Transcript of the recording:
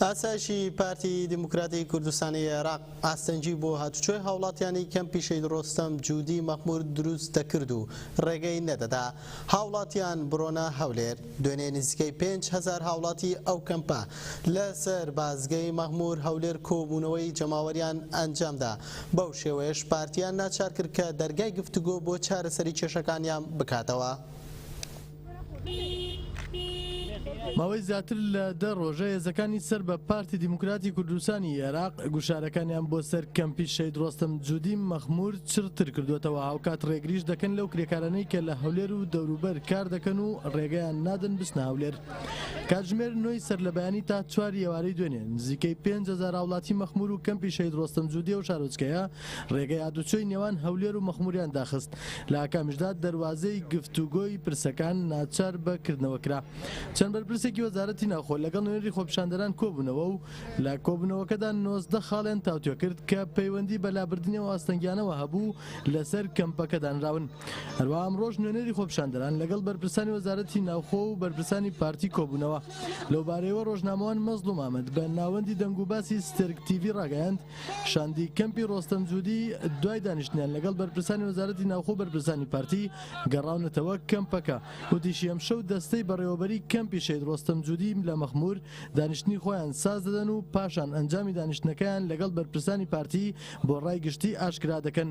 ئاسایشی پارتی دیموکراتی کوردستانی عێراق ئاستەنگی بۆ هاتوچۆی هاوڵاتیانی کەمپی شەید ڕۆستەم جودی مەخمور دروست دەکرد و ڕێگەی نەدەدا هاوڵاتیان بڕۆنە هەولێر. دوێنێ نزیکەی پێنج هەزار هاوڵاتی ئەو کەمپە لە سەر بازگەی مەخمور هەولێر کۆبوونەوەی جەماوەریان ئەنجامدا بەو شێوەیەش پارتیان ناچارکرد کە دەرگای گفتوگۆ بۆ چارەسەری کێشەکانیان بکاتەوە. ماوەی زیاتر لە دە ڕۆژە هێزەکانی سەر بە پارتی دیموکراتی کوردستانی ئێراق گوشارەکانیان بۆ سەر کەمپی شەید ڕۆستەم جودی مەخمور چڕتر کردوەتەوە هاوکات ڕێگریش دەکەن لەو کرێکارانەی کە لە هەولێر و دەوروبەر کار دەکەن و ڕێگەیان نادەن بچنە هەولێر کاتژمێر نۆی سەر لە بەیانی تا چوار ئێوارەی دوێنێ نزیکەی پێنج هەزار هاوڵاتی مەخمور و کەمپی شەید ڕۆستەم جودی و شارۆچکەیە ڕێگەی هاتوچۆی نێوان هەولێر و مەخموریان داخست، لە ئاکامیشدا دەروازەی گفتوگۆی پرسەکان ناچار بە کردنەوە کرا. چەند بەرپرسێکی وەزارەتی ناوخۆ لەگەڵ نوێنەری خۆپیشاندەران کۆبوونەوە و لە کۆبوونەوەکەدا نۆزدە خاڵیان تاوتوێکرد کە پەیوەندی بە لابردنی ئەو ئاستەنگیانەوە هەبوو لەسەر کەمپەکە دانراون. هەروەها ئەمڕۆش نوێنەری خۆپیشاندەران لەگەڵ بەرپرسانی وەزارەتی ناوخۆ و بەرپرسانی پارتی کۆبوونەوە. لەوبارەیەوە ڕۆژنامەوان مەزڵوم ئامەد بە ناوەندی دەنگوباسی سترک تیڤی ڕاگەیاند، شاندی کەمپی ڕۆستەم جودی، دوای دانیشتنیان لەگەڵ بەرپرسانی وەزارەتی ناوخۆ و بەرپرسانی پارتی، گەڕاونەتەوە کەمپەکە. وتیشی، ئەمشەو دەستەی بەڕێوەبەریی کەمپی شەهید ڕۆستەم جودی لە مەخموور، دانیشتنی خۆیان ساز دەدەن و پاشان ئەنجامی دانیشتنەکەیان لەگەڵ بەرپرسانی پارتی بۆ ڕای گشتی ئاشکرا دەکەن.